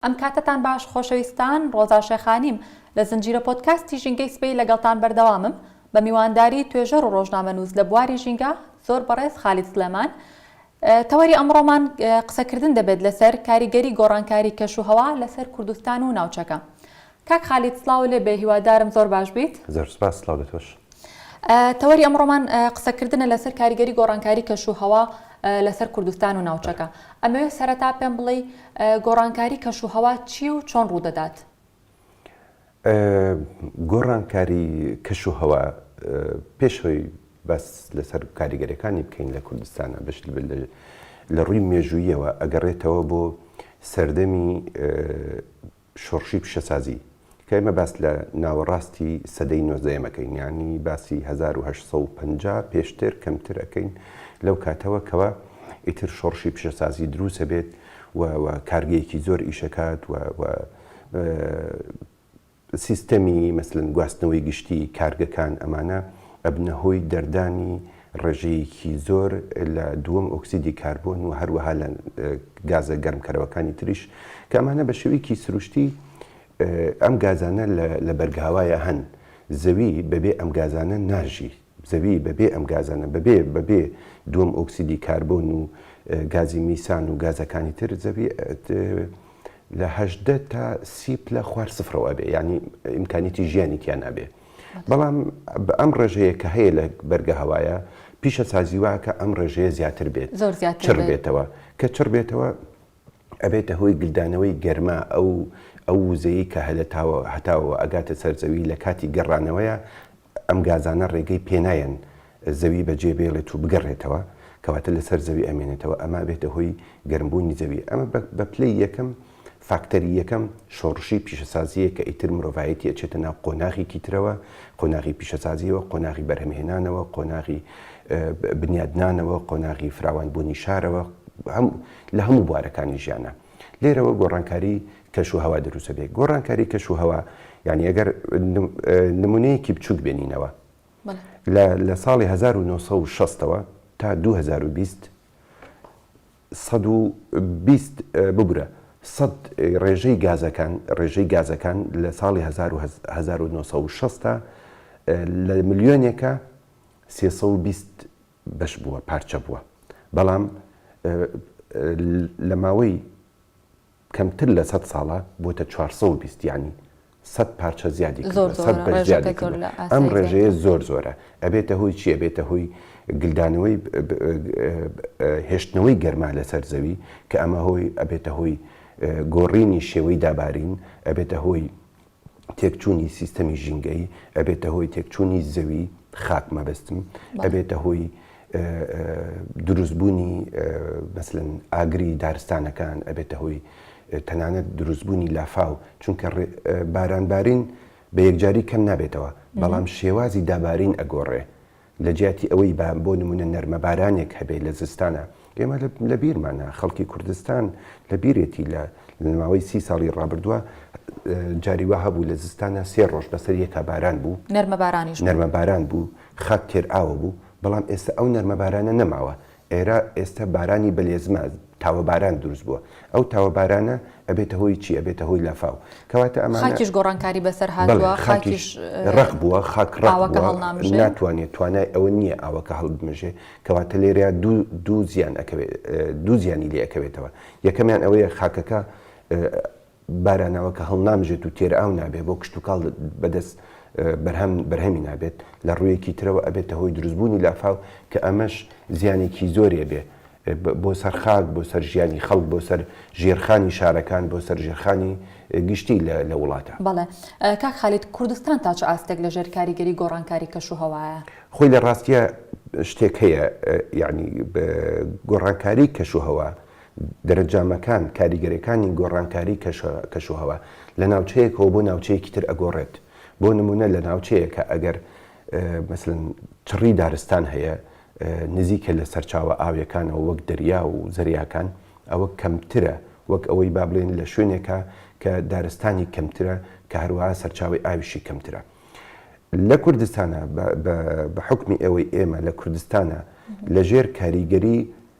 ئەم کاتەتان باش خۆشەویستان، ڕۆزا شێخانیم لە زنجیرە پۆدکاستی ژینگەی سبەی لەگەڵتان بەردەوامم بە میوانداری توێژەر و ڕۆژنامەنووس لە بواری ژینگە زۆر بەڕێز خالید سڵێمان. تەوەری ئەمڕۆمان قسەکردن دەبێت لەسەر کاریگەری گۆڕانکاری کەش و هەوا لەسەر کوردستان و ناوچەکە. کاک خالید سڵاو لێ بێ هیوادارم زۆر باش بیت. زۆر سوپاس سڵاو لە تۆش. تەوەری ئەمڕۆمان قسەکردنە لەسەر کاریگەری گۆڕانکاری کەش و هەوا لەسەر کوردستان و ناوچەکە. ئەمەوێ سەرەتا پێم بڵێی گۆڕانکاری کەش و هەوا چییە و چۆن ڕوودەدات؟ گۆڕانکاری کەش و هەوا پێش ئەوەی باس لەسەر کاریگەریەکانی بکەین لە کوردستانە بەش لە ڕووی مێژوویەوە ئەگەڕێتەوە بۆ سەردەمی شۆڕشی پیشەسازی، کە ئێمە باس لە ناوەڕاستی سەدەی نۆزدەیەم ئەکەین، یانی باسی هەزار و هەشت سەد و پەنجا پێشتر کەمتر ئەکەین لەو کاتەوە کەوا ئیتر شۆڕشی پیشەسازی دروست ئەبێت و و کارگەیەکی زۆر ئیش ئەکات و و سیستەمی مەسەلەن گواستنەوەی گشتی کارگەکان ئەمانە ئەبنە هۆی دەردانی ڕێژەیەکی زۆر لە دووەم ئۆکسیدی کاربۆن و هەروەها لە گازە گەرمکەرەوەکانی تریش کە ئەمانە بە شێوەیەکی سروشتی ئەم گازانە لە بەرگاوایا هەن زەوی بەبێ ئەم گازانە ناژی زەوی بەبێ ئەم گازانە بەبێ بەبێ دووەم ئۆکسیدی کاربۆن و گازی میسان و گازەکانی تر زەوی لە هەژدە تا سی پلە خوار سفرەوە ئەبێ یانی ئیمکانیەتی ژیانی تیا نابێ. بەڵام ئەم ڕێژەیە کە هەیە لە بەرگە هەوایە پیشەسازی واکە ئەم ڕێژەیە زیاتر بێت زۆر زیات چڕ بێتەوە کە چڕ بێتەوە ئەبێتە هۆی گلدانەوەی گەرما ئەو ئەو وزەیە کە هەلەتاوە هەتاوە ئەگاتە سەرزەوی لە کاتی گەڕانەوەیە ئەم گازانە ڕێگەی پێنایەن زەوی بەجێ بێڵێت و بگەڕێتەوە، کەواتە لەسەر زەوی ئەمێنێتەوە، ئەمە ئەبێتە هۆی گەرمبوونی زەوی، ئەمە بە پلەی یەکەم، فاکتەری یەکەم، شۆڕشی پیشەسازییە کە ئیتر مرۆڤایەتی ئەچێتە ناو قۆناغێکی ترەوە، قۆناغی پیشەسازییەوە، قۆناغی بەرهەمهێنانەوە، قۆناغی بنیادنانەوە، قۆناغی فراوانبوونی شارەوە، لە هەموو بوارەکانی ژیانا. لێرەوە گۆڕانکاری کەش و هەوا دروست ئەبێت. گۆڕانکاری کەش و هەوا، یانی ئەگەر نموونەیەکی بچووک بێنینەوە، بەڵێ. لە لە ساڵی هەزار و نۆ سەد و شەست ەوە تا دوو هەزار و بیست، سەد و بیست ببورە، سەد ڕێژەی گازەکان، ڕێژەی گازەکان لە ساڵی هەزار و هەزار و نۆ سەد و شەست تا لە ملیۆنێکە سێ سەد و بیست بەش بووە، پارچە بووە. بەڵام لە ماوەی. کەمتر لە سەد ساڵە بۆتە چوار سەد و بیست یانی سەد پارچە زیادی کردوە سەد بەش زیادی کردوە ئەم ڕێژەیە زۆر زۆرە ئەبێتە هۆی چی ئەبێتە هۆی گلدانەوەی هێشتنەوەی گەرما لەسەر زەوی کە ئەمە هۆی ئەبێتە هۆی گۆڕینی شێوەی دابارین ئەبێتە هۆی تێکچوونی سیستەمی ژینگەیی، ئەبێتە هۆی تێکچوونی زەوی، خاک مەبەستم، ئەبێتە هۆی دروستبوونی مەسەلەن ئاگری دارستانەکان، ئەبێتە هۆی تەنانەت دروستبوونی لافاو، چونکە بارانبارین بە یەکجاری کەم نابێتەوە، بەڵام شێوازی دابارین ئەگۆڕێ، لە جیاتی ئەوەی با بۆ نموونە نەرمەبارانێک هەبێ لە زستانا، ئێمە لە بیرمانە، خەڵکی کوردستان لە بیرێتی لە ماوەی سی ساڵی ڕابردووە جاری وا هەبوو لە زستانا سێ ڕۆژ بەسەر یەکا باران بوو، نەرمەبارانیش بوو، نەرمەباران بوو، خاک تێرئاوە بوو، بەڵام ئێستە ئەو نەرمەبارانە نەماوە، ئێرە ئێستا بارانی بەلێزمە تاوە باران دروست بوە ئەو تاوە بارانە ئەبێتە هۆی چی ئەبێتە هۆی لافاو کەواتە ئەمانە خاکیش گۆڕانکاری بەسەر هاتوە بەڵێ خاکیش خاکیش اه، ڕەق بووە خاک ڕەق ئاوەکە بووە هەڵنامژێ. ناتوانێت توانای ئەوە نییە ئاوەکە هەڵبمژێ کەواتە لێرەیا دوو دوو زیان ئەکەوێت اه، دوو زیانی لێ ئەکەوێتەوە یەکەمیان ئەوەیە خاکەکە اه، باراناوە کە هەڵنامژێت و تێرئاو نابێت بۆ کشتوکاڵ بەدەست بەرهەم بەرهەمی نابێت لە ڕوویەکی ترەوە ئەبێتە هۆی دروستبوونی لافاو کە ئەمەش زیانێکی زۆری ئەبێ بۆ سەر خاک بۆ سەر ژیانی خەڵک بۆ سەر ژێرخانی شارەکان بۆ سەر ژێرخانی گشتی لە وڵاتە. بەڵێ کاک خالید کوردستان تا چ ئاستێک لە ژێر کاریگەری گۆڕانکاری کەشوهەوایە؟ خۆی لە ڕاستیا شتێک هەیە یانی گۆڕانکاری کەشوهەوا، دەرەجامەکان، کاریگەریەکانی گۆڕانکاری کەشوهەوا لە ناوچەیەکەوە بۆ ناوچەیەکی تر ئەگۆڕێت، بۆ نمونە لە ناوچەیەکە ئەگەر مەسەلەن چڕی دارستان هەیە نزیکە لە سەرچاوە ئاویەکانەوە وەک دەریا و زەریاکان ئەوە کەمترە وەک ئەوەی با بڵێن لە شوێنێکە کە دارستانی کەمترە کە هەروە سەرچاوی ئاویشی کەمترە. لە کوردستانە بە حکمی ئەوەی ئێمە لە کوردستانە لە ژێر کاریگەری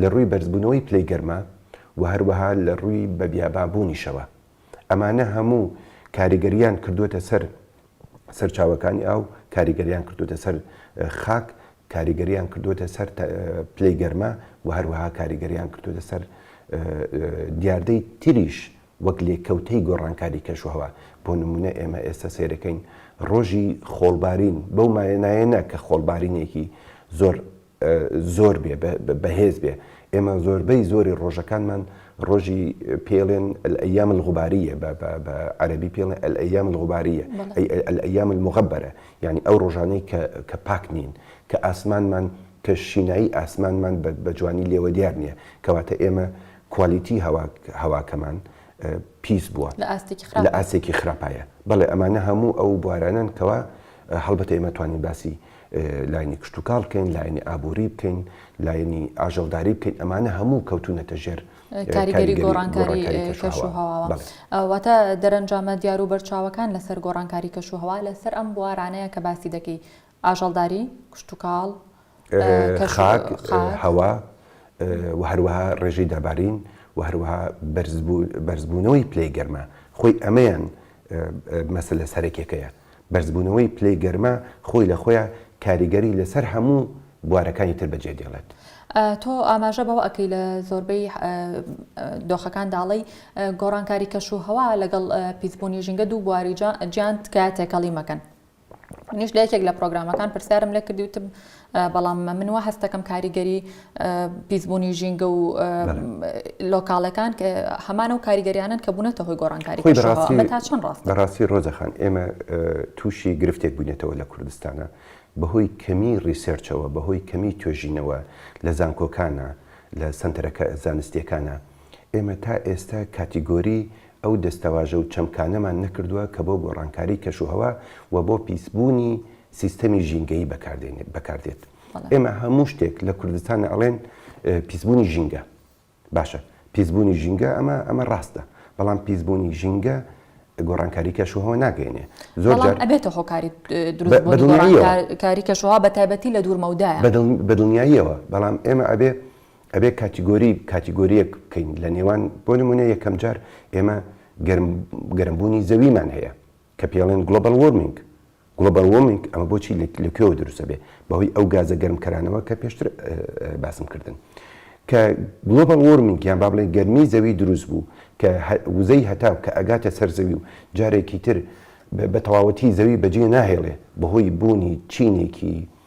لە ڕووی بەرزبوونەوەی پلەی گەرما و هەروەها لە ڕووی بەبیابانبوونیشەوە، ئەمانە هەموو کاریگەرییان کردووەتە سەر سەرچاوەکانی ئاو، کاریگەرییان کردووەتە سەر خاک، کاریگەرییان کردووەتە سەر پلەی گەرما و هەروەها کاریگەرییان کردووەتە سەر دیاردەی تریش وەک لێکەوتەی گۆڕانکاری کەشوهەوا، بۆ نموونە ئێمە ئێستا سەیرەکەین ڕۆژی خۆڵبارین بەو مانایە نا کە خۆڵبارینێکی زۆر زۆر بێ بەهێز بێ ئێمە زۆربەی زۆری ڕۆژەکانمان ڕۆژی پێڵێن ئەیام الغباریە بە عەربی پێڵێن ئەیام الغباریە ئەیام المغبەرە یعنی ئەو ڕۆژانەی کە پاک نین کە ئاسمانمان کە شینایی ئاسمانمان بە جوانی لێوە دیار نییە کەواتە ئێمە کوالیتی هەواکەمان پیس بووە لە ئاسێکی خراپایە بەڵێ ئەمانە هەموو ئەو بوارانن کەوا هەڵبەتە ئێمەتوانین باسی لایەنی کشتوکاڵ بکەین، لایەنی ئابووری بکەین، لایەنی ئاژەڵداری بکەین، ئەمانە هەموو کەوتونەتە ژێر کاریگەری گۆڕانکاری کەشوهەواوە. واتە دەرەنجامە دیار و بەرچاوەکان لەسەر گۆڕانکاری کەشوهەوا لەسەر ئەم بوارانەیە کە باسی دەکەی، ئاژەڵداری، کشتوکاڵ، خاک، هەوا و هەروەها ڕێژەی دابارین و هەروەها بەرزبوونەوەی پلەی گەرما، خۆی ئەمەیان مەسەلە سەرەکیەکەیە. بەرزبوونەوەی پلەی گەرما خۆی لە خۆیا کاریگەری لەسەر هەموو بوارەکانی تر بەجێ دێڵێت. تۆ ئاماژە بەوە ئەکەی لە زۆربەی دۆخەکان دا ئەڵێی گۆڕانکاری کەش و هەوا لەگەڵ پیسبوونی ژینگە دوو بواری جیان تکایە تێکەڵی مەکەن. منیش لە یەکێک لە پرۆگرامەکان پرسیارم لێ کردی وتم بەڵام من وا هەست دەکەم کاریگەری پیسبوونی ژینگە و لۆکاڵەکان کە هەمانە و کاریگەریانن کە بوونەتە هۆی گۆڕانکاری تا چەند ڕاست بەڕاستی ڕۆزەخان ئێمە تووشی گرفتێک بوونێتەوە لە کوردستانە بەهۆی کەمی ڕیسێرچەوە بەهۆی کەمی توێژینەوە لە زانکۆکانە لە سەنتەرەکە زانستیەکانە. ئێمە تا ئێستا کاتیگۆری ئەو دەستەواژە و چەمکانەمان نەکردووە کە بۆ گۆڕانکاری کەشوهەوا و بۆ پیسبوونی سیستەمی ژینگەیی بەکاردێت. ئێمە هەموو شتێک لە کوردستان ئەڵێن پیسبوونی ژینگە. باشە پیسبوونی ژینگە ئەمە ئەمە ڕاستە، بەڵام پیسبوونی ژینگە گۆڕانکاری کەشوهەوا ناگەێنێ. زۆر جار ئەبێتە هۆکاری دروستبوونی گۆڕانکاری کەشوهەوا بەتایبەتی لە دوورمەودایە. بەدڵنیاییەوە، بەڵام ئێمە ئەبێ ئەبێ کاتیگۆری کاتیگۆرییەک بکەین لە نێوان، بۆ نموونە یەکەم جار ئێمە گەرم گەرمبوونی زەویمان هەیە کە پێڵێن گلۆبەل وۆرمینگ Global Warming ئەمە بۆچی لە کوێوە دروست ئەبێ بەهۆی ئەو گازە گەرم کەرانەوە کە پێشتر باسم کردن کە گلۆبەل وۆرمینگ یان با بڵێن گەرمی زەوی دروست بوو کە وزەی هەتاو کە ئەگاتە سەر زەوی و جارێکی تر بە تەواوەتی زەوی بەجێ ناهێڵێ بەهۆی بوونی چینێکی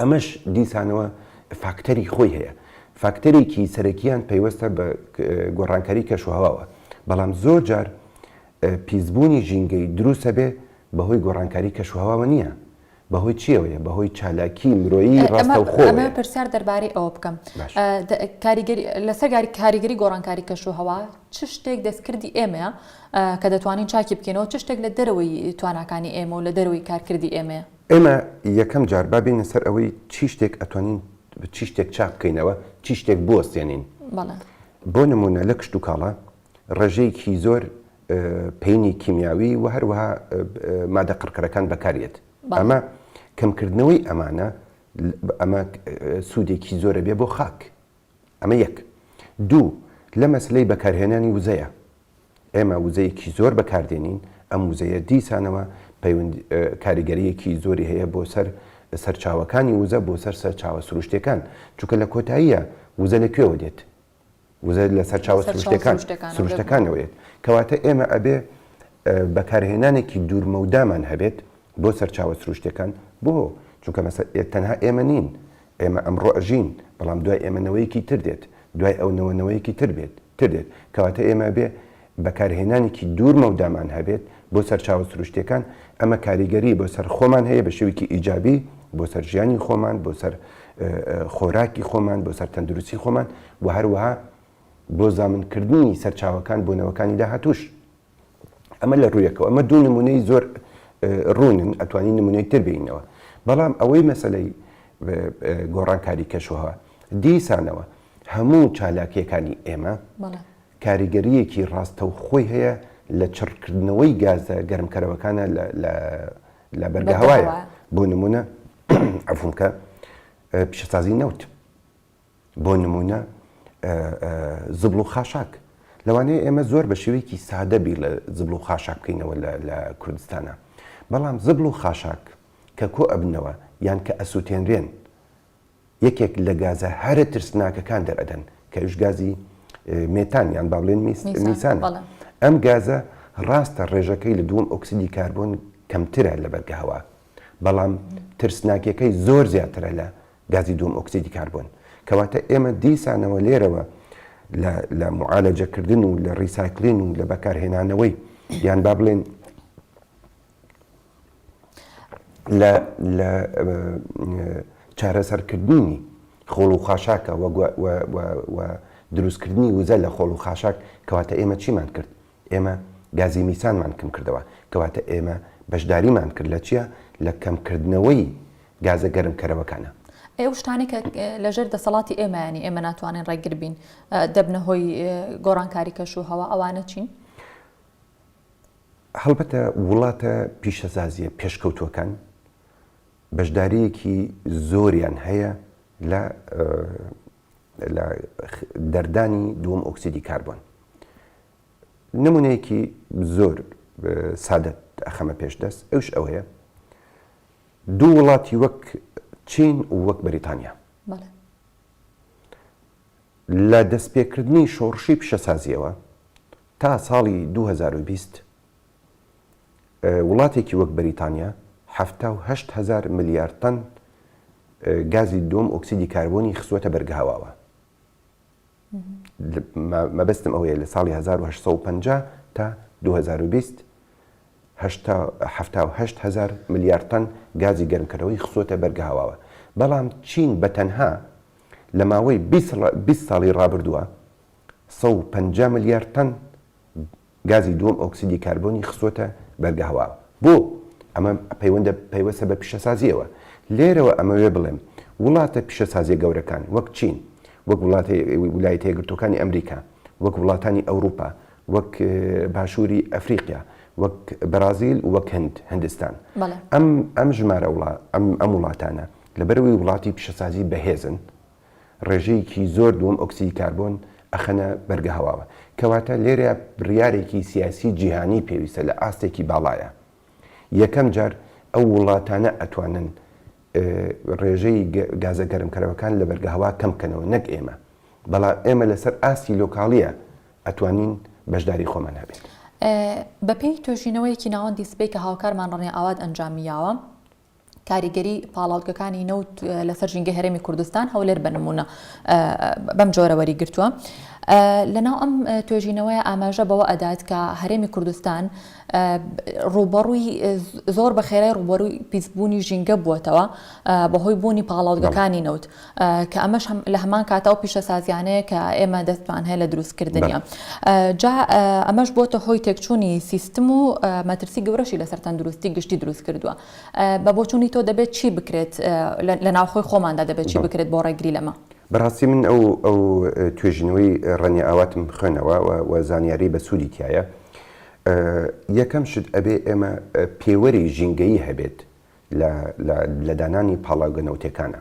ئەمەش دیسانەوە فاکتەری خۆی هەیە فاکتەرێکی سەرەکییان پەیوەستە بە گۆڕانکاری کەشوهواوە بەڵام زۆر جار پیسبوونی ژینگەی دروستە بێ بەهۆی گۆڕانکاری کەشوهواوە نییە بەهۆی چیەوەیە بەهۆی چالاکی مرۆیی ڕاستەوخۆ پرسیار دەربارەی ئەوە بکەم لەسەر کاریگەری گۆڕانکاری کەشوهوا چ شتێک دەستکردی ئێمەیە کە دەتوانین چاکی بکەینەوە چ شتێک لە دەرەوەی تواناکانی ئێمە و لە دەرەوەی کارکردی ئێمەیە ئێمە یەکەم جار با بێینە سەر ئەوەی چی شتێک ئەتوانین چی شتێک چاک بکەینەوە، چی شتێک بوەستێنین. بەڵێ. بۆ نموونە لە کشتوکاڵا ڕێژەیەکی زۆر پەینی کیمیاوی و هەروەها مادە قڕکەرەکان بەکار یەت. ئەمە کەمکردنەوەی ئەمانە ئەمە سوودێکی زۆر ئەبێ بۆ خاک. ئەمە یەک. دوو، لە مەسەلەی بەکارهێنانی وزەیە. ئێمە وزەیەکی زۆر بەکار دێنین، ئەم وزەیە دیسانەوە پەیوەند کاریگەرییەکی زۆری هەیە بۆ سەر سەرچاوەکانی وزە، بۆ سەر سەرچاوە سروشتییەکان. چونکە لە کۆتاییە وزە لە کوێوە دێت؟ وزە لە سەرچاوە سروشتییەکان، سروشتەکانەوە دێت. کەواتە ئێمە ئەبێ بەکارهێنانێکی دوورمەودامان هەبێت بۆ سەرچاوە سروشتییەکان. بۆ؟ چونکە مەسە تەنها ئێمە نین، ئێمە ئەمڕۆ ئەژین، بەڵام دوای ئێمە نەوەیەکی تر دێت، دوای ئەو نەوە نەوەیەکی تر بێت، تر دێت، کەواتە ئێمە ئەبێ بەکارهێنانێکی دوور مەودامان هەبێت بۆ سەرچاوە سروشتیەکان، ئەمە کاریگەری بۆ سەر خۆمان هەیە بە شێوەیەکی ئیجابی بۆ سەر ژیانی خۆمان، بۆ سەر خۆراکی خۆمان، بۆ سەر تەندروستی خۆمان و هەروەها بۆ زامن کردنی سەرچاوەکان بۆ نەوەکانی داهاتووش. ئەمە لە ڕوویەکەوە ئەمە دوو نمونەی زۆر ڕوونن ئەتوانی نمونەی تر بینەوە بەڵام ئەوەی مەسلەی گۆڕانکاری کەشوهوا دیسانەوە هەموو چالاکیەکانی ئێمە کاریگەریەکی ڕاستە و خۆی هەیە لە چڕکردنەوەی گازە گەرمکەرەوەکانە لە بەرگە هەوایە بۆ نمونە ئەفونکە پیشەسازی نەوت بۆ نموونە زبڵ و خاشاک، لەوانەیە ئێمە زۆر بە شێوەیەکی سادە بیر لە زبڵ و خاشاک بکەینەوە لە کوردستانا، بەڵام زبڵ و خاشاک کە کۆ ئەبنەوە یان کە ئەسووتێنرێن، یەکێک لە گازە هەرە ترسناکەکان دەرئەدەن، کە ئەویش گازی مێتان یان با بڵێن میسانە. ئەم گازە ڕاستە ڕێژەکەی لە دووەم ئۆکسیدی کاربۆن کەمترە لە بەرگەهەوا، بەڵام ترسناکییەکەی زۆر زیاترە لە گازی دووەم ئۆکسیدی کاربۆن. کەواتە ئێمە دیسانەوە لێرەوە لە لە موعالەجەکردن و لە ڕیسایکلین و لە بەکارهێنانەوەی یان با بڵێن لە لە چارەسەرکردنی خۆڵ و خاشاکە و دروستکردنی وزە لە خۆڵ و خاشاک کەواتە ئێمە چیمان کرد ئێمە گازی میسانمان کم کردەوە، کەواتە ئێمە بەشداریمان کرد لە چیا؟ لە کەم کردنەوەی گازە گەرم کەرەوەکانە. ئەی ئەو شتانەی کە لە ژێر دەسەڵاتی ئێمەیانی، ئێمە ناتوانین ڕێگر بین، دەبنە هۆی گۆڕانکاری کەش و هەوا، ئەوانە چین؟ هەڵبەتە وڵاتە پیشەسازیە پێشکەوتووەکان بەشداریەکی زۆریان هەیە لە لە دەردانی دووەم ئۆکسیدی کاربۆن. نمونەیەکی زۆر سادەت ئەخەمە پێش دەست ئەوش ئەوەیە دوو وڵاتی وەک چین و وەک بەریتانیا لە دەستپێکردنی شۆڕشی پیشەسازیەوە تا ساڵی 2020 وڵاتێکی وەک بەریتانیا حەفتا و هەشت هەزار ملیار تەن گازی دووەم ئۆکسیدی کاربۆنی خستووەتە بەرگەهەواوە. مەبەستم ئەوەیە لە ساڵی 1950 تا 2020 1970 هزار ملیار تەن گازی گەرمکەرەوەی خستووەتە بەرگەهەواوە، بەڵام چین بە تەنها لە ماوەی بیست ساڵی ڕابردووە 150 ملیار تەن گازی دووەم ئۆکسیدی کاربۆنی خستووەتە بەرگە هەوا. بۆ؟ ئەمە پەیوەندە پەیوەستە بە پیشەسازییەوە. لێرەوە ئەمەوێ بڵێم، وڵاتە پیشەسازییە گەورەکان، وەک چین، وەک وڵاتە ولایەتە یەکگرتووەکانی ئەمریکا، وەک وڵاتانی ئەوروپا، وەک باشووری ئەفریقیا، وەک بەڕازیل و وەک هند، هندستان. ئەم ئەم ژمارە وڵا ئەم ئەم وڵاتانە لەبەرئەوەی وڵاتی پیشەسازی بەهێزن، ڕێژەیەکی زۆر دووەم ئۆکسیدی کاربۆن ئەخەنە بەرگە هەواوە. کەواتە لێرە بڕیارێکی سیاسی جیهانی پێویستە لە ئاستێکی باڵایا. یەکەم جار ئەو ووڵاتانە ئەتوانن ڕێژەی گازە گەرمکەرەوەکان لە بەرگە هەوا کەم بکەنەوە نەک ئێمە. بەڵام ئێمە لەسەر ئاستی لۆکاڵیە ئەتوانین بەشداری خۆمان هەبێت. بەپێی توێژینەوەیەکی ناوەندی سپێ کە هاوکارمان ڕەنێ ئاوات ئەنجامی یاوە، کاریگەری پاڵاوتگەکانی نەوت لەسەر ژینگەی هەرێمی کوردستان، هەولێر بە نموونە بەم جۆرە وەریگرتووە. لەناو ئەم توێژینەوەیە ئاماژە بەوە ئەدات کە هەرێمی کوردستان ڕووبەڕووی زۆر بە خێرای ڕووبەرووی پیسبوونی ژینگە بووەتەوە بەهۆی بوونی پاڵاوتگەکانی نەوت. کە ئەمەش لە هەمان کاتە و پیشەسازیانەیە کە ئێمە دەستمان هەیە لە دروستکردنیە جا ئەمەش بۆتە هۆی تێکچوونی سیستم و مەترسی گەورەشی لەسەر تەندروستی گشتی دروست کردووە بە بۆچوونی تۆ دەبێت چی بکرێت لە ناوخۆی خۆماندا دەبێت چی بکرێت بۆ ڕێگری لەمە بەڕاستی من ئەو ئەو توێژینەوەی ڕەنی ئاواتم خوێنەوە و زانیاری بە سوودی تایە یەکەم شت ئەبێ ئێمە پێوەری ژینگەیی هەبێت لە دانانی پاڵاوگە نەوتێکانە.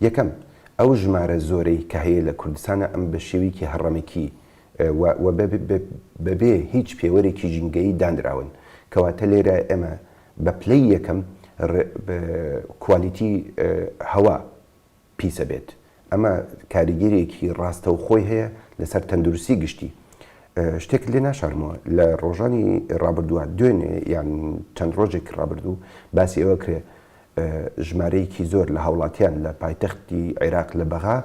یەکەم، ئەو ژمارە زۆرەی کە هەیە لە کوردستانە ئەم بە شێویکی هەڕەمەکی و بە بێ هیچ پێوەرێکی ژینگەیی دانراون. کەواتە لێرە ئێمە بە پلەی یەکەم کوالیتی هەوا، پیسە بێت ئەمە کاریگەریەکی ڕاستەوخۆی هەیە لەسەر تەندروستی گشتی. شتێکت لێ ناشارمەوە لە ڕۆژانی ڕابردووە دوێنێ یان چەند ڕۆژێکی ڕابردوو باسی ئەوە کرێ ژمارەیەکی زۆر لە هاوڵاتیان لە پایتەختی عێراق لە بەغا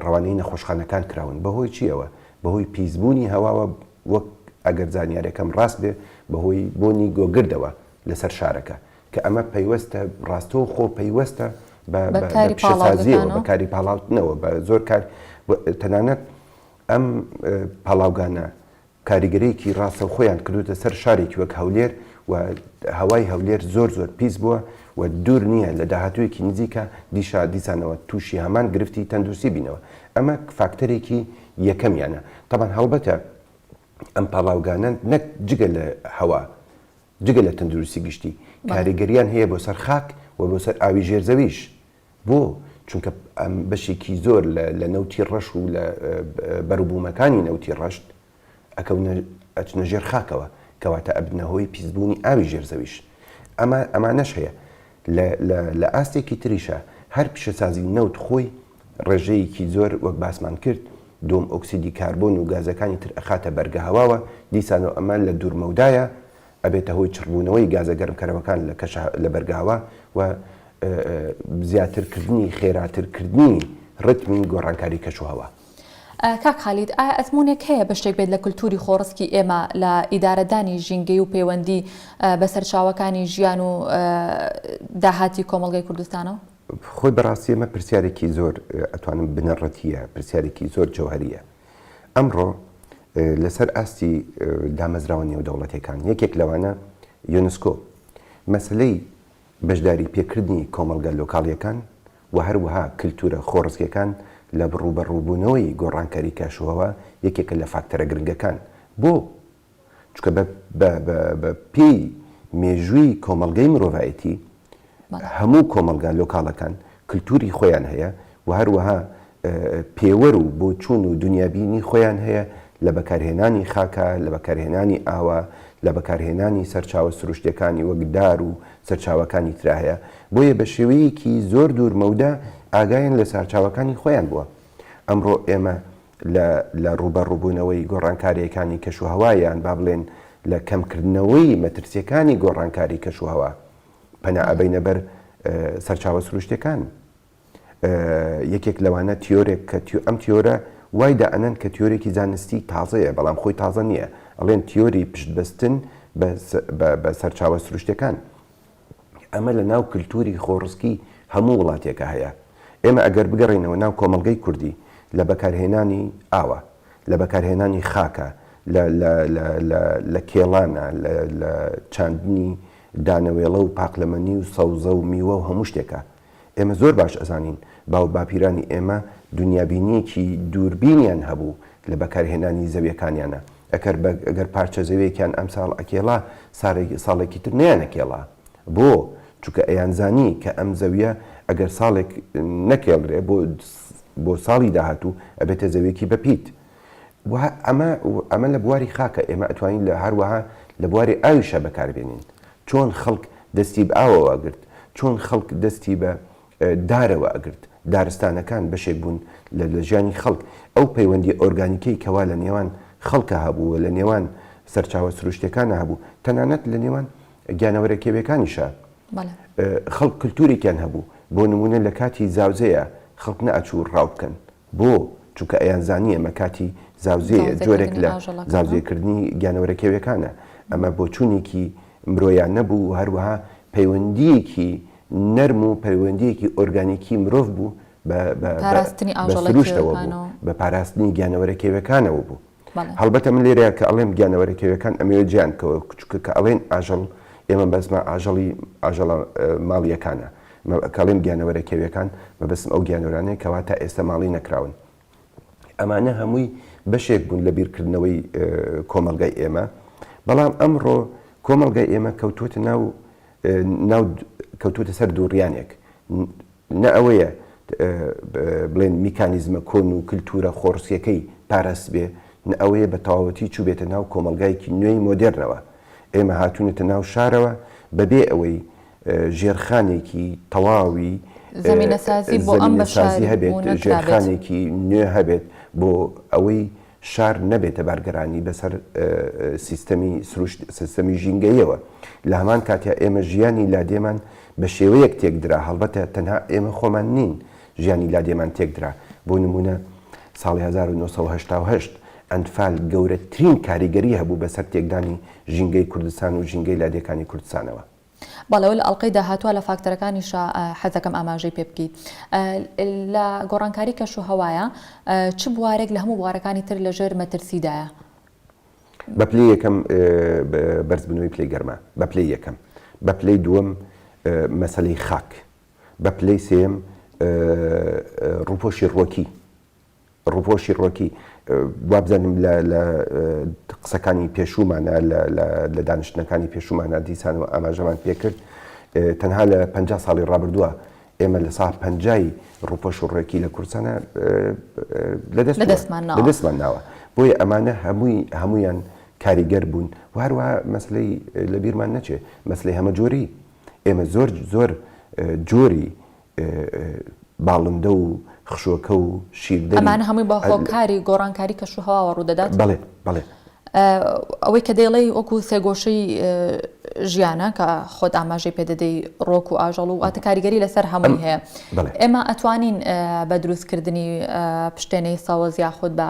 ڕەوانەی نەخۆشخانەکان کراون بەهۆی چیەوە بەهۆی پیسبوونی هەواوە وەک ئەگەر زانیارەکەم ڕاست بێ بەهۆی بۆنی گۆگردەوە لەسەر شارەکە کە ئەمە پەیوەستە ڕاستەو خۆ پەیوەستە بە پیشەسازیەوە بەکاری پاڵاوتنەوە بە زۆر کار تەنانەت ئەم پاڵاوگانە کاریگەرێکی ڕاستە خۆیان کردوتە سەر شارێکی وەک هەولێر و هەوای هەولێر زۆر زۆر پیس بووە و دوور نییە لە داهاتوویەکی نزیکە دیشا دیسانەوە تووشی هەمان گرفتی تەندروستی بینەوە ئەمە فاکتەرێکی یەکەمیانە تامان هەڵبەتە ئەم پاڵاوگانە نەک جگە لە هەوا جگە لە تەندروستی گشتی، کاریگەرییان هەیە بۆ سەر خاک و بۆ سەر ئاوی ژێر زەویش. بۆ؟ چونکە بەشێکی زۆر لە نەوتی ڕەش و لە بەروبوومەکانی نەوتی ڕەشت ئەکەونە، ئەچنە ژێر خاکەوە، کەواتە ئەبنە هۆی پیسبوونی ئاوی ژێر زەویش. ئەمە ئەمانەش هەیە. لە لە ئاستێکی تریشا هەر پیشەسازی نەوت خۆی ڕێژەیەکی زۆر وەک باسمان کرد دووەم ئۆکسیدی کاربۆن و گازەکانی تر ئەخاتە بەرگە هەواوە دیسان و ئەمە لە دوورمەودایە ئەبێتە هۆی چڕبوونەوەی گازە گەرمکەرەوەکان لە کەشە لە بەرگاوە و زیاتر کردنی خێراتر کردنی ڕتمی گۆڕانکاری کەش و هەوا. کاک خالید ئایا ئەزموونێک هەیە بەشێک بێت لە کلتوری خۆڕسکی ئێمە لە ئیدارەدانی ژینگەی و پەیوەندی بە سەرچاوەکانی ژیان و داهاتی کۆمەڵگەی کوردستانەوە؟ خۆی بەڕاستی ئەمە پرسیارێکی زۆر ئەتوانم بنەڕەتییە، پرسیارێکی زۆر جەوهەرییە. ئەمڕۆ لەسەر ئاستی دامەزراوە نێودەوڵەتییەکان، یەکێک لەوانە یۆنسکۆ، مەسەلەی بەشداریپێکردنی کۆمەڵگە لۆکاڵییەکان و هەروەها کلتوورە خۆڕسکییەکان لە ڕووبەڕووبوونەوەی گۆڕانکاری کەشوهەوا یەکێکە لە فاکتەرە گرنگەکان بۆ چونکە بە بە بە بە پێی مێژووی کۆمەڵگەی مرۆڤایەتی بەڵێ. هەموو کۆمەڵگا لۆکاڵەکان کلتوری خۆیان هەیە و هەروەها پێوەر و بۆچوون و دونیابینی خۆیان هەیە لە بەکارهێنانی خاکا، لە بەکارهێنانی ئاوا، لە بەکارهێنانی سەرچاوە سروشتیەکانی وەک دار و سەرچاوەکانی ترا هەیە، بۆیە بە شێوەیەکی زۆر دوور مەودا ئاگایان لە سارچاوەکانی خۆیان بووە. ئەمڕۆ ئێمە لە ڕووبەڕووبوونەوەی گۆڕانکارییەکانی کەشوهەوا یان با بڵێین لە کەمکردنەوەی مەترسییەکانی گۆڕانکاری کەشوهەوا پەنا ئەبەینە بەر سەرچاوە سروشتییەکان. یەکێک لەوانە تیۆرێک کە ئەم تیۆرە وای دائەنەن کە تیۆرێکی زانستی تازەیە بەڵام خۆی تازە نییە، ئەڵێن تیۆری پشتبەستن بە سەرچاوە سروشتییەکان. ئەمە لە ناو کلتوری خۆڕسکی هەموو وڵاتێکا هەیە. ئێمە ئەگەر بگەڕێینەوە ناو کۆمەڵگەی کوردی لە بەکارهێنانی ئاوە، لە بەکارهێنانی خاکە، لە لە لە لە لە کێڵانە، لە لە چاندنی دانەوێڵە و پاقلەمەنی و سەوزە و میوە و هەموو شتێکا. ئێمە زۆر باش ئەزانین باو باپیرانی ئێمە دونیابینیەکی دووربینیان هەبوو لە بەکارهێنانی زەویەکانیانا ئەکەر بە گەر پارچە زەویەکیان ئەمساڵ ئەکێڵا سارێک ساڵێکی تر نەیان ئەکێڵا بۆ چونکە ئەیان زانی کە ئەم زەویە ئەگەر ساڵێک نەکێڵرێ بۆ بۆ ساڵی داهاتوو ئەبێتە زەویەکی بە پیت و ئەمە ئەمە لە بواری خاکە ئێمە ئەتوانین لە هەروەها لە بواری ئاویشە بەکاربێنین چۆن خەڵک دەستی بە ئاوەوە ئەگرت چۆن خەڵک دەستی بە دارەوە ئەگرت دارستانەکان بەشێک بوون لە لە ژیانی خەڵک ئەو پەیوەندی ئۆرگانیکەی کەوا لە نێوان خەڵکە هەبوو لە نێوان سەرچاوە سروشتەکانە هەبوو تەنانەت لە نێوان گیانەوەرە کێویەکانیشە خەڵک کللتورێکیان هەبوو بۆ نمونە لە کاتی زاوزەیە خەڵک نەئەچوو ڕاو بکەن بۆ؟ چونکە ئەیانزانی ئەمە کاتی زاوزێیە، جۆرێک لە زاوزێکردنی گیانەوەرە کێویەکانە. ئەمە بۆچوونێکی مرۆیانە بوو و هەروەها پەیوەندییەکی نەرم و پەیوەندییەکی ئۆرگانیکی مرۆڤ بوو بە سروشتەوە بوو، بە پاراستنی گیانەوەرە کێویەکانەوە بوو. هەڵبەتە من لێرەیان کە ئەڵێم گیانەوەرە کێویەکان ئەمەوێ جێیان بکەوە چونکە کە ئەڵێن ئاژەڵ ئێمە بەسمە ئاژەڵی ئاژەڵە ماڵیەکانە کەڵێم گیانەوەرە کێویەکان مەبەستم ئەو گیانەورانەیە کەوا تا ئێستا ماڵی نەکراون ئەمانە هەمووی بەشێک بوون لە بیرکردنەوەی کۆمەلگای ئێمە بەڵام ئەمڕۆ کۆمەلگای ئێمە کەوتوتە ناو ناو کەوتوتە سەر دووڕیانێک نە ئەوەیە بڵێن میکانیزمە کۆن و کلتوورە خۆڕسکیەکەی پاراستبێ، نە ئەوەیە بە تەواوەتی چووبێتە ناو کۆمەڵگایەکی نوێی مۆدێرنەوە. ئێمە هاتوونەتە ناو شارەوە بە بێ ئەوەی ژێرخانێکی تەواوی زەمینەسازی هەبێت، ژێرخانێکی نوێ هەبێت بۆ ئەوەی شار نەبێتە بارگرانی بەسەر سیستەمی سروشت سیستەمی ژینگەیەوە لە هەمان کاتیا ئێمە ژیانی لادێمان بە شێوەیەک تێکدرا هەڵبەتە تەنها ئێمە خۆمان نین ژیانی لادێمان تێکدرا بۆ نمونە ساڵی 1970 ئەنفال گەورەترین کاریگەری هەبوو بەسەر تێکدانی ژینگەی کوردستان و ژینگەی لادێکانی کوردستانەوە. بەڵێ لە ئەڵقەی داهاتووا لە فاکتەرەکانیشا حەزەکەم ئاماژەی پێ بکەی لە گۆڕانکاری کەش و هەوایە چ بوارێک لە هەموو بوارەکانی تر لە ژێر مەترسیدایە؟ بە پلەی یەکەم بەرزبوونەوەی پلەی گەرما بە پلەی یەکەم بە پلەی دووەم مەسەلەی خاک بە پلەی سێیەم ڕووپۆشی ڕووەکی ڕوفۆ شیڕۆکی، وابزانم لە لە قسەکانی پێشوومانە، لە لە لە دانیشتنەکانی پێشوومانە دیسانەوە ئاماژەمان پێ کرد، تەنها لە پەنجا ساڵی ڕابردووە ئێمە لە ساڵ پەنجای ڕوفۆ شوڕێکی لە کوردستانە لە دەست لە دەستمان ناوە. لە دەستمان ناوە. بۆیە ئەمانە هەمووی هەموویان کاریگەر بوون و هەروەها مەسلەی لە بیرمان نەچێ مەسلەی هەمەجۆریی، ئێمە زۆر زۆر جۆری باڵندە و خشۆکە و شیردەری. ئەمانە هەمووی بە هۆکاری گۆڕانکاری کەشوهەواوە ڕوودەدات؟ بەڵێ، بەڵێ. ئەوەی کە دەیڵێی وەکو سێگۆشەی ژیانە کە خۆت ئاماژەی پێ دەدەی ڕۆک و ئاژەڵ و واتە کاریگەری لەسەر هەمووی هەیە ئێمە ئەتوانین بە دروستکردنی پشتێنەی سەوز یاخود بە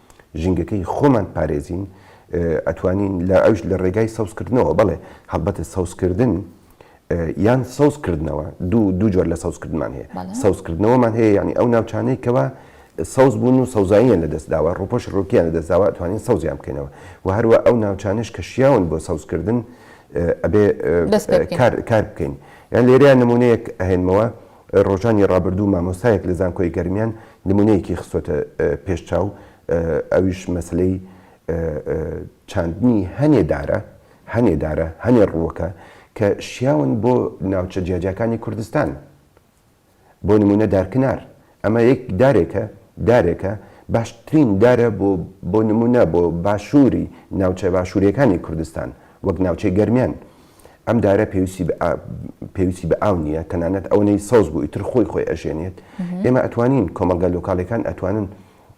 ژینگەکەی خۆمان پارێزین ئەتوانین لە ئەوش لە ڕێگای سەوزکردنەوە بەڵێ هەڵبەتە سەوزکردن یان سەوزکردنەوە دوو دوو جۆر لە سەوزکردمان هەیە سەوزکردنەوەمان هەیە ینی ئەو ناوچانەی کەەوە سەوز بوون و سەوزاییان لە دەستداوە ڕوپۆش ڕوکیان لە دەستداوە توانین سەوزیان بکەینەوە و هەروە ئەو ناوچانش کە شیاون بۆ سەوزکردن ئەبێ کار بکەین یان لێرە نمونەیەک ئەهێنمەوە ڕۆژانی ڕابردوو مامۆستایەک لە زانکۆی گەرمیان نمونەیەکی خستۆتە پێش چاو ئەویش مەسەلەی چاندنی هەنێ دارە هەنێ دارە هەنێ ڕووەکە کە شیاون بۆ ناوچە جیاجیاکانی کوردستان بۆ نمونە دارکنار ئەمە یەک دارێکە دارێکە باشترین دارە بۆ بۆ نمونە بۆ باشووری ناوچە باشووریەکانی کوردستان وەک ناوچەی گەرمیان ئەم دارە پێویستی بە ئاو نییە تەنانەت ئەوەی سەوز بوو ئیتر خۆی خۆی ئەژێنێت ئێمە ئەتوانین کۆمەلگا لۆکالەکان ئەتوانن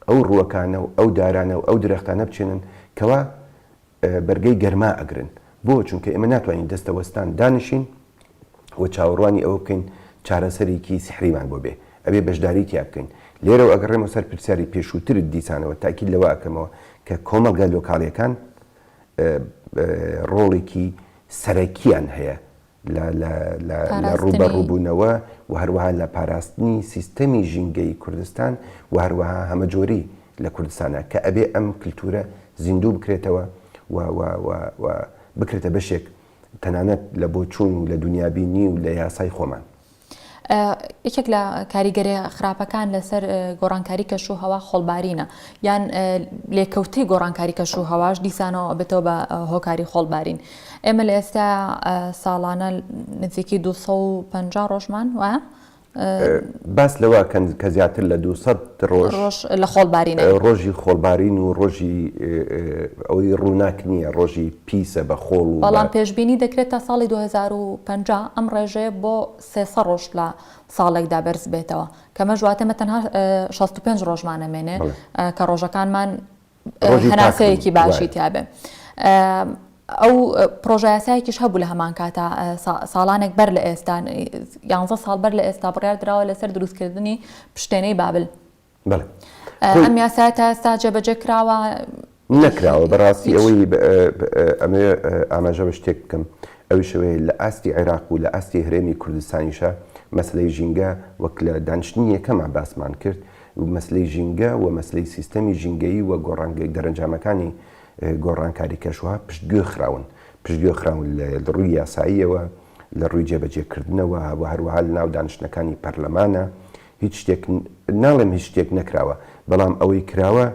ئەو ڕووەکانە و ئەو دارانە و ئەو درەختانە بچێنن کەوا بەرگەی گەرما ئەگرن بۆ چونکە ئێمە ناتوانین دەستەوەستان دانیشین و چاوەڕوانی ئەوە بکەین چارەسەرێکی سحریمان بۆ بێ ئەبێ بەشداری تیا بکەین لێرە و ئەگەڕێمە سەر پرسیاری پێشووترت دیسانەوە تاکی لەوەکەمەوە کە کۆمەلگا لۆکالەکان ڕۆڵێکی سەرەکییان هەیە لە ڕووبەڕووبوونەوە و هەروەها لە پاراستنی سیستەمی ژینگەیی کوردستان و هەروەها هەمەجۆری لە کوردستانا کە ئەبێ ئەم کلتوورە زیندوو بکرێتەوە و بکرێتە بەشێک تەنانەت لە بۆچوون و لە دونیابینی و لە یاسای خۆمان. یەکێک لە کاریگەرە خراپەکان لەسەر گۆڕانکاری کەش و هەوا خۆڵبارینە یان لێکەوتەی گۆڕانکاری کەش و هەواش دیسانەوە بێتەوە بە هۆکاری خۆڵبارین ئێمە لە ئێستا ساڵانە نزیکی 250 ڕۆژمان وە باس لەوە کەند کە زیاتر لە 200 ڕۆژ لە خۆڵبارین ڕۆژی خۆڵبارین و ڕۆژی ئەوی ڕووناک نییە ڕۆژی پیسە بە خۆڵ و بە. بەڵام پێشبینی دەکرێت تا ساڵی دوو هەزار و پەنجا ئەم ڕێژەیە بۆ سێ سەد ڕۆژ لە ساڵێکدا بەرزببێتەوە، کەمەش واتە ئێمە تەنها شەست و پێنج ڕۆژمان ئەمێنێ بەڵێ. کە ڕۆژەکانمان ڕۆژی پاک بن. هەناسەیەکی باشی وایە. تیابێ. ئەو پڕۆژە یاسایەکیش هەبوو لە هەمان کاتا سا ساڵانێک بەر لە ئێستا یانزە ساڵ بەر لە ئێستا بڕیار دراوە لەسەر دروستکردنی پشتێنەی بابل، بەڵێ ئەم یاسایە تا ئێستا جێبەجێ کراوە؟ نەکراوە بەڕاستی ئەوەی ئەمەوێ ئاماژە بە شتێک بکەم ئەویشەوەی لە ئاستی عێراق و لە ئاستی هەرێمی کوردستانیشە مەسلەی ژینگە وەک لە دانیشتنی یەکەمە باسمان کرد و مەسلەی ژینگە و مەسلەی سیستەمی ژینگەیی و گۆڕانگەی دەرەنجامەکانی گۆڕانکاری کەشوها پشتگوێ خراون پشتگوێ خراون لە ڕووی یاساییەوە لە ڕووی جێبەجێکردنەوە و هەروەها لە ناو دانیشتەکانی پەرلەمانە هیچ شتێک ناڵێم هیچ شتێک نەکراوە بەڵام ئەوەی کراوە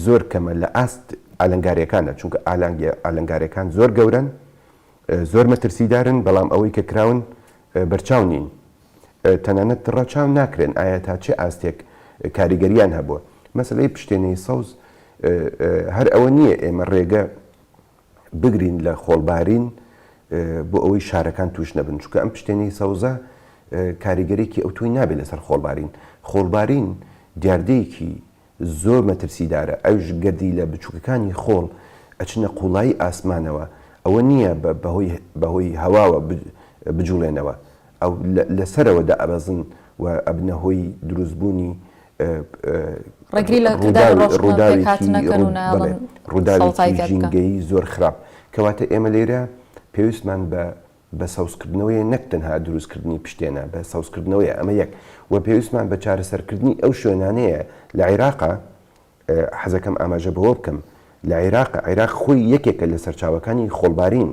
زۆر کەمە لە ئاست ئالنگارەکانە چونکە ئالانگی ئالنگارەکان زۆر گەورن زۆر مەترسیدارن بەڵام ئەوەی کە کراون بەرچاو نین تەنانەت ڕەچاو ناکرێن ئایا تا چه ئاستێک کاریگەریان هەبووە مەسلەی پشتێنەی سەوز هەر ئەوە نییە ئێمە ڕێگە بگرین لە خۆڵبارین بۆ ئەوەی شارەکان توش نەبن چکە ئەم پشتێنی سەوزە کاریگەرێکی ئەوتوی نابێت لەسەر خۆڵبارین خۆڵبارین دیاردەیەکی زۆر مەترسیدارە ئەوش گەردی لە بچووکەکانی خۆڵ ئەچنە قوڵایی ئاسمانەوە ئەوە نییە بەهۆی بەهۆی هەواوە بجوڵێنەوە ئەو لەسەرەوە دەئەبەزن و ئەبنە هۆی دروستبوونی ڕووداوێکی زۆر خراپ کەواتە ئێمە لێرە پێویستمان بە بە سەوزکردنەوەی نەک تەنها دروستکردنی پشتێنە بە سەوزکردنەوەی ئەمە یەک و پێویستمان بە چارەسەرکردنی ئەو شوێنانەیە لە عێراقا حەزەکەم ئاماژە بەوە بکەم لە عێراق عێراق خۆی یەکێکە لە سەرچاوەکانی خۆڵبارین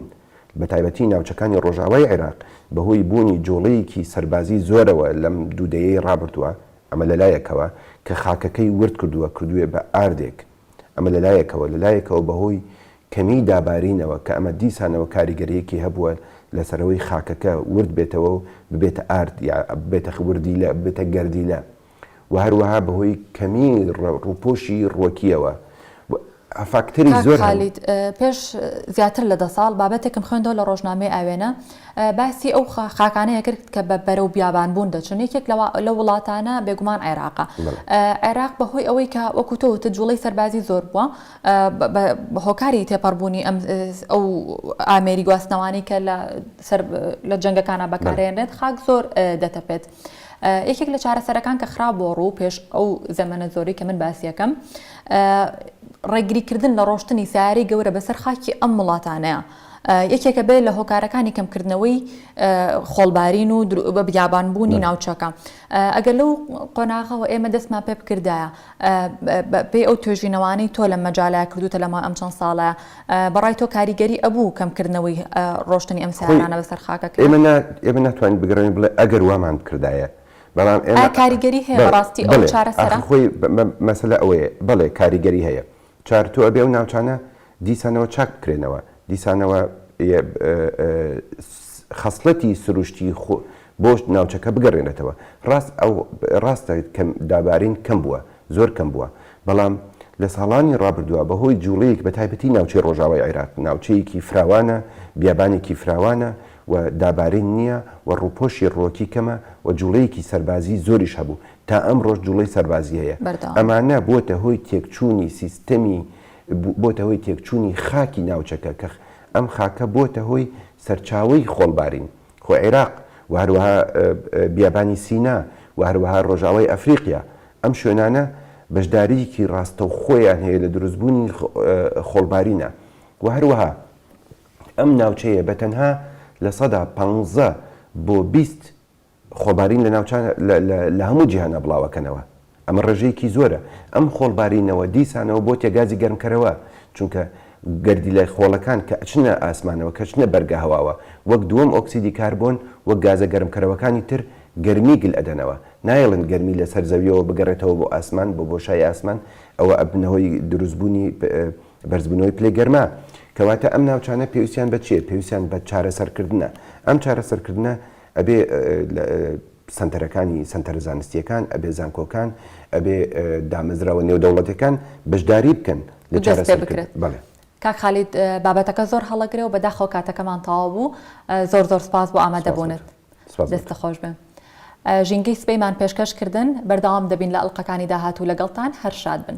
بە تایبەتی ناوچەکانی ڕۆژاوای عێراق بەهۆی بوونی جۆڵەیەکی سەربازی زۆرەوە لەم دوودەیەی ڕابردووە ئەمە لە لایەکەوە کە خاکەکەی ورد کردووە کردوویە بە ئاردێک، ئەمە لە لایەکەوە، لە لایەکەوە بە هۆی کەمیی دابارینەوە کە ئەمە دیسانەوە کاریگەرییەکی هەبووە لەسەر ئەوەی خاکەکە ورد بێتەوە و ببێتە ئارد یا ببێتە وردیلە، ببێتە گەردیلە و هەروەها بە هۆی کەمیی ڕووپۆشی ڕووەکییەوە. فاکتەری زۆر هەن. کاک خالید پێش زیاتر لە دە ساڵ بابەتێکم خوێندەوە لە ڕۆژنامەی ئاوێنە باسی ئەو خاکانەیە کرد کە بە بەرەو بیابان بوون دەچن یەکێک لە وڵاتانە بێگومان عێراقە عێراق بە هۆی ئەوەی کە وەکو تۆ وتت جوڵەی سەربازی زۆر بووە بە هۆکاری تێپەڕبوونی ئەم ئەو ئامێری گواستنەوانی کە لە سەر لە جەنگەکانە بەکارێنێت خاک زۆر دەتەپێت. یەکێک لە چارەسەرەکان کە خرا بۆ ڕوو پێش ئەو زەمەە زۆری کە من باسیەکەم ڕێگریکردن لە ڕۆشتنی سیاری گەورە بەسەر خاکی ئەم وڵاتانەیە. یەکێکە بێت لە هۆکارەکانی کەمکردنەوەی خۆڵبارین و بە بیابانبوونی ناوچەکە ئەگەر لەو قۆناغەوە ئێمە دەستمان پێ بکردایە بەپێی ئەو توێژینەوانەی تۆ لەم مەجالە کردوتە لەماوەی ئەم چەند ساڵە بەڕای تۆ کاریگەری ئەبوو کەم کردنەوەی ڕۆشتنی ئەم سیارانە بەسەر خاکەکە؟ ئێمە ناتوانین بگەڕێین بڵێ ئەگەر وامان بکردایە بەڵام ئێمە ئایا کاریگەری هەیە بەڕاستی ئەو چارەسەرە؟ ئاخر خۆی مەسەلە ئەوەیە بەڵێ کاریگەری هەیە چارتۆ ئەبێ ئەو ناوچانە دیسانەوە چاک بکرێنەوە، دیسانەوە خەسڵەتی سروشتی بۆ ناوچەکە بگەڕێنێتەوە. ڕاست ئەو ڕاستە دابارین کەم بووە، زۆر کەم بووە، بەڵام لە ساڵانی ڕابردووە بەهۆی جوڵەیەک بە تایبەتی ناوچەی ڕۆژاوای عێراق ناوچەیەکی فراوانە، بیابانێکی فراوانە و دابارین نییە و ڕووپۆشی ڕووەکی کەمە و جوڵەیەکی سەربازی زۆریش هەبوو، تا ئەمڕۆش جوڵەی سەربازی هەیە. بەردەوامە. ئەمانە بۆتە هۆی تێکچوونی سیستەمی بۆتە هۆی تێکچوونی خاکی ناوچەکە کە ئەم خاکە بۆتە هۆی سەرچاوەی خۆڵبارین خۆ عێراق و هەروەها بیابانی سینا و هەروەها ڕۆژاوای ئەفریقیا ئەم شوێنانە بەشدارییەکی ڕاستەوخۆیان هەیە لە دروستبوونی خۆڵبارینە و هەروەها ئەم ناوچەیە بە تەنها لە سەدا پانزە بۆ بیست خۆڵبارین لە ناوچان لە هەموو جیهانا بڵاوەکەنەوە، ئەمە ڕێژەیەکی زۆرە، ئەم خۆڵبارینەوە دیسانەوە بۆتە گازی گەرمکەرەوە، چونکە گەردیلە خۆڵەکان کە ئەچنە ئاسمانەوە کە ئەچنە بەرگە هەواوە وەک دووەم ئۆکسیدی کاربۆن وەک گازە گەرمکەرەوەکانی تر گەرمی گل ئەدەنەوە، نایەڵن گەرمی لە سەر زەویەوە بگەڕێتەوە بۆ ئاسمان بۆ بۆشای ئاسمان ئەوە ئەبنە هۆی دروست بوونی بەرزبوونەوەی پلەی گەرما، کەواتە ئەم ناوچانە پێویستیان بە چیە؟ پێویستیان بە چارەسەرکردنە، ئەم چارەسەرکردنە ئەبێ سەنتەرەکانی سەنتەرە زانستییەکان، ئەبێ زانکۆکان، ئەبێ دامەزراوە نێودەوڵەتیەکان بەشداری بکەن لە چارەسەر کردن. کاک خالید بابەتەکە زۆر هەڵەگرە و بەداخەوە کاتەکەمان تەواو بوو، زۆر زۆر سپاس بۆ ئامادەبوونت. دەستت خۆش بێ. ژینگەی سبەیمان پێشکەش کردن، بەردەوام دەبین لە ئەڵقەکانی داهاتوو لەگەڵتان، هەر شاد بن.